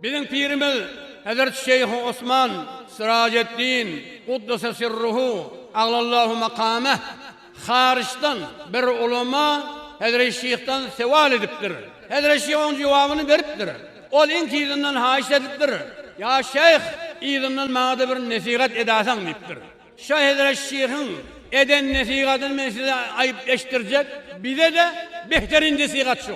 Biziň pirimiz Hezreti Şeýhi Osman Syrajeddin Gudduse Sirruhu Aglallahu Makameh haryçdan bir ulema Hezreti Şyhdan sewal edipdir. Hezreti Şyh onuň jogabyny beripdir. Ol iň tizinden haýyş edipdir, Ýa Şyh, yzyndan maňa-da bir nesihat edäýseň diýipdir. Şa Hezreti Şyhyň eden nesihatyny men size aýyp eşitdirjek, bize-de behterindesihat şu.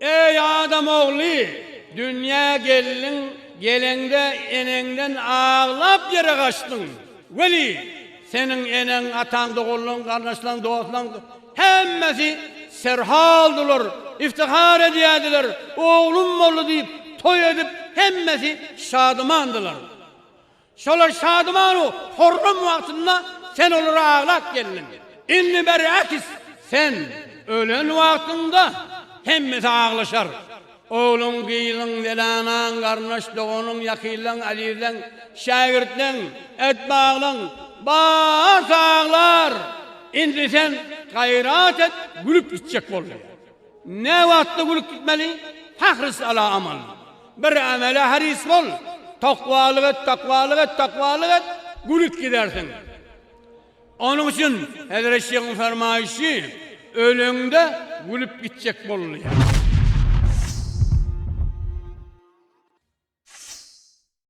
Eý, adam ogly, dünýä geldiň, geleňde eneňden aglap ýere gaçdyň. Weli, seniň eneň, ataň, doganlaň, garyndaşlaň, dostlaň hemmesi serholdular, iftihar edýärdiler, oglum boldy diýip, toý edip, hemmesi şadymandylar. Şolar şadymanu horram wagtynda sen olara aglap geldiň. Indi berakis, sen ölen wagtyňda hemmesi aglaşar. Ogluň, gyzyň, zelanaň, garyndaş, doganyň, ýakynlaň, azizleň, şägirtleň, etbaglaň, barsy aglar. Indi sen gaýrat et, gülüp gitjek bol diýýär. Näwagtda gülüp gitmeli? Hahris ala amal. Bir amele haris bol. Takwalyk et, takwalyk et, takwalyk et, gülüp gidersiň. Onuň üçin Hezret Şeýhiň fermaýşy, Öleňde gülüp gitjek bol diýýär.